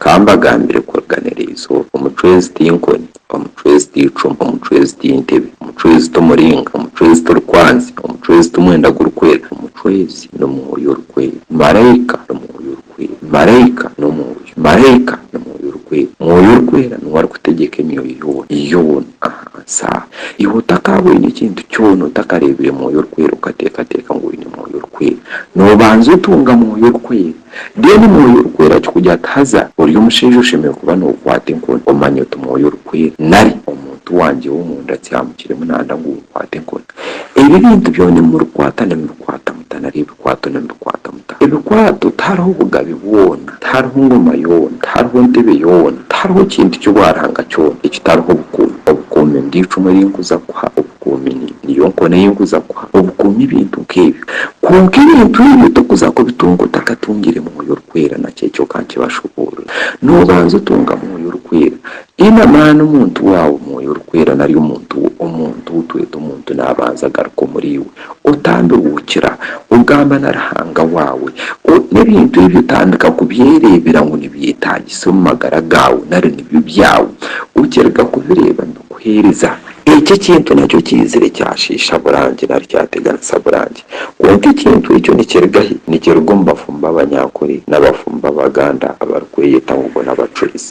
Ka mbagambire kuruganiirizo, omucwezi ti nkoni, omucwezi ti icumu, omucwezi ti ntebe, omucwezi ti muringa, omucwezi ti rukwanzi, omucwezi ti mwenda gurikwera, omucwezi ni Mwoyo Orikwera. Maraika ni Mwoyo Orikwera. Maraika ni Omwoyo. Maraika ni Mwoyo Orikwera. Mwoyo Orikwera niwe arikutegyeka emyoyo yoona, yoona aha nsi aha. Iwe otakaaboine ekintu kyona, otakareebire Mwoyo Orikwera, okateekateeka ngu oine Mwoyo Orikwera. Noobanza otunga Mwoyo Orikwera. Then mwoyo orikweera akikugira ati haza ori omushaija oshemereire kuba nokwata enkoni omanya oti mwoyo orikweera nari omuntu wangye womunda akyamukiremu nanda ngu okwate enkoni ebi ebintu byona ebi murikwata nimubikwata muta nari ebikwato nimubikwata muta ebikwato tihariho obugabe bwona tihariho engoma yoona tihariho entebe yoona tihariho kintu kyobwarhanga kyona ekitariho obukuumi obukuumi niryo icumu erinkuza kukuha Obukuumi niyo nkona ei orikuza kuha obukuumi ebintu nk'ebyo. Kwonka ebintu ebyo torikuza kubitunga otakatungire Mwoyo Orikwera, na kye kyoka nkibashoboorore. Noobanza otunga Mwoyo Orikwera. Haine amaani omuntu waawe Mwoyo Orikwera nari omuntu we, omuntu ou tweta omuntu naabanza agaruka omuriiwe. Otambihuukira. Ogamba na Ruhanga waawe. O, n'ebintu ebyo otandika kubyereebera ngu nibyetaagisa omu magara gaawe nari nibyo byawe. Okiriga kubireeba nibikuheereza. Eki ekintu nakyo kiizire kyashiisha Burangi nari kyateganisa Burangi. Kwonka ekintu ekyo nikiruga hi? Nikiruga omu bafumbo b'Abanyankore n'abafumbo b'Abaganda abarikweyeta ngu bo n'abacurizi.